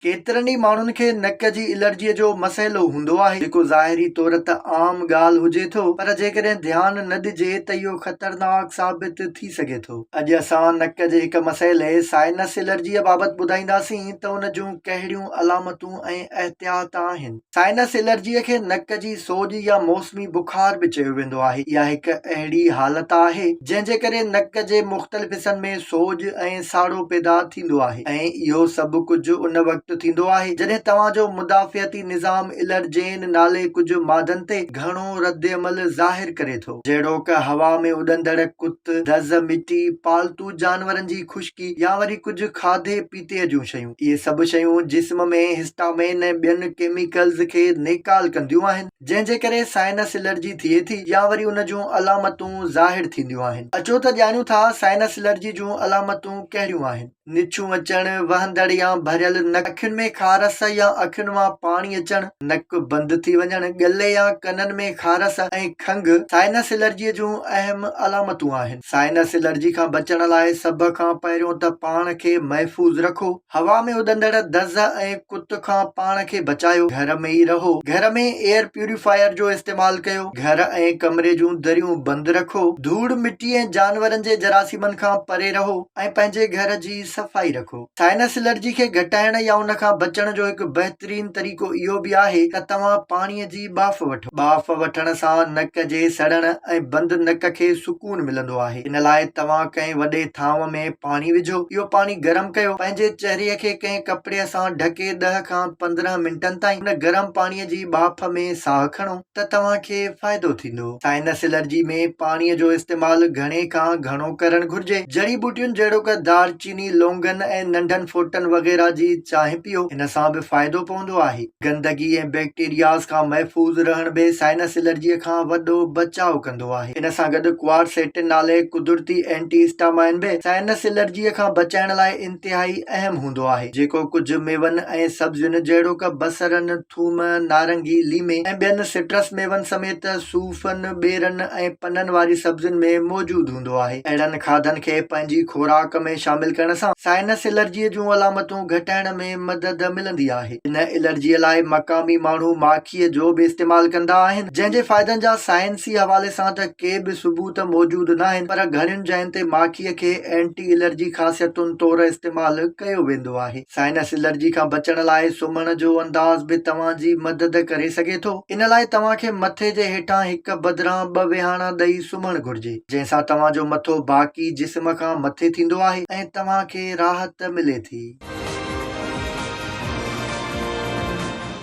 ڪيترن ئي ماڻهن کي نڪ جي الرجيء جو مسئلو هوندو آهي، جيڪو ظاهري طور ته عام ڳالهه هجي ٿو، پر جيڪڏهن ڌيان نه ڏجي ته اهو خطرناڪ ثابت ٿي سگهي ٿو. اڄ اسان نڪ جي هڪ مسئلي، سائنس الرجيء بابت ٻڌائينداسين ته ان جون ڪهڙيون علامتون ۽ احتياط آهن. سائنس الرجيء کي نڪ جي سوڄ يا موسمي بخار به چيو ويندو آهي. اها هڪ اهڙي حالت آهي، جنهن جي ڪري نڪ جي مختلف حصن ۾ سوڄ ۽ ساڙو پيدا ٿيندو آهي ۽ اهو سڀ ڪجهه ان وقت ٿيندو آهي، جڏهن توهان جو مدافعتي نظام الرجين نالي ڪجهه مادن تي گهڻو ردعمل ظاهر ڪري ٿو، جهڙوڪ هوا ۾ اڏندڙ ڪت، دز، مٽي، پالتو جانورن جي خشڪي يا وري ڪجهه کاڌي پيتي. تيء جون شيون. اهي سڀ شيون جسم ۾ هسٽامين ۽ ٻين ڪيميڪلز کي نيڪال ڪنديون آهن، جنهن جي ڪري سائنس الرجي ٿئي ٿي يا وري ان جون علامتون ظاهر ٿينديون آهن. اچو ته ڄاڻيون ٿا سائنس الرجي جون علامتون ڪهڙيون آهن. نڇون اچڻ، وهندڙ يا ڀريل نڪ، اکين ۾ خارس يا اکين مان پاڻي اچڻ، نڪ بند ٿي وڃڻ، ڳلي يا ڪنن ۾ خارس ۽ کنگهه سائنس الرجي جون اهم علامتون آهن. سائنس الرجي کان بچڻ لاء سڀ کان پهريون ته پاڻ کي محفوظ رکو، هوا ۾ اڏندڙ دز ۽ ڪت کان پاڻ کي بچايو، گهر ۾ ئي رهو، گهر ۾ ايئر پيوريفائر جو استعمال ڪيو، گهر ۽ ڪمري جون دريون بند رکو، ڌوڙ مٽي ۽ جانورن جي جراثيمن کان پري رهو ۽ پنهنجي گهر جي صفائي رکو. سائنس الرجي کي گهٽائڻ يا ان کان بچڻ جو هڪ بهترين طريقو اهو به آهي ته توهان پاڻي جي ٻاڦ وٺو. ٻاڦ وٺڻ سان نڪ جي سڙڻ ۽ بند نڪ کي سڪون ملندو آهي. ان لاء توهان ڪنهن وڏي ٿانو ۾ پاڻي وجهو. اهو پاڻي گرم ڪيو. پنهنجي چهري کي ڪنهن ڪپڙي سان ڍڪي ڏهه کان پندرهن منٽن تائين ان گرم پاڻي جي ٻاڦ ۾ ساهه کڻو. ته توهان کي فائدو ٿيندو. سائنس الرجي ۾ پاڻي جو استعمال گهڻي کان گهڻو ڪرڻ گهرجي. جڙي ٻوٽين جهڙوڪ دار چيني، لونگن ۽ ننڍن ڦوٽن وغيره جي چانهه پيو، ان سان به فائدو پوندو آهي. گندگي ۽ بيڪٽيرياز کان محفوظ رهڻ به سائنس الرجي کان وڏو بچاء ڪندو آهي. ان سان گڏ ڪوارسيٽن نالي قدرتي اينٽي اسٽامائن به سائنس الرجي کان بچائڻ لاء انتهائي اهم هوندو آهي، جيڪو ڪجهه ميون ۽ سبزين جهڙوڪ بصرن، ٿوم، نارنگي، ليمي ۽ ٻين سٽرس ميون سميت صوفن، ٻيرن ۽ پنن واري سبزين ۾ موجود هوندو آهي. اهڙن کاڌن کي پنهنجي خوراڪ ۾ شامل ڪرڻ سان سائنس الرجيء جون علامتون گهٽائڻ ۾ مدد ملندي آهي. هن الرجيء لاء مقامي ماڻهو ماکيء جو به استعمال ڪندا آهن، جنهن جي فائدن جا سائنسي حوالي سان ته ڪي به ثبوت موجود ناهن پر گهڻين جاين تي ماکيء کي اينٽي الرجي خاصيتن طور استعمال ڪيو ويندو آهي. سائنس الرجي کان بچڻ لاء سمهڻ جو انداز به توهان جي مدد ڪري سگهي ٿو. ان لاء توهان کي مٿي جي هيٺان هڪ بدران ٻه ويهاڻا ڏئي سمهڻ گهرجي، جنهن سان توهان جو مٿو باقي جسم کان مٿي ٿيندو آهي ۽ توهان کي راحت ملي ٿي.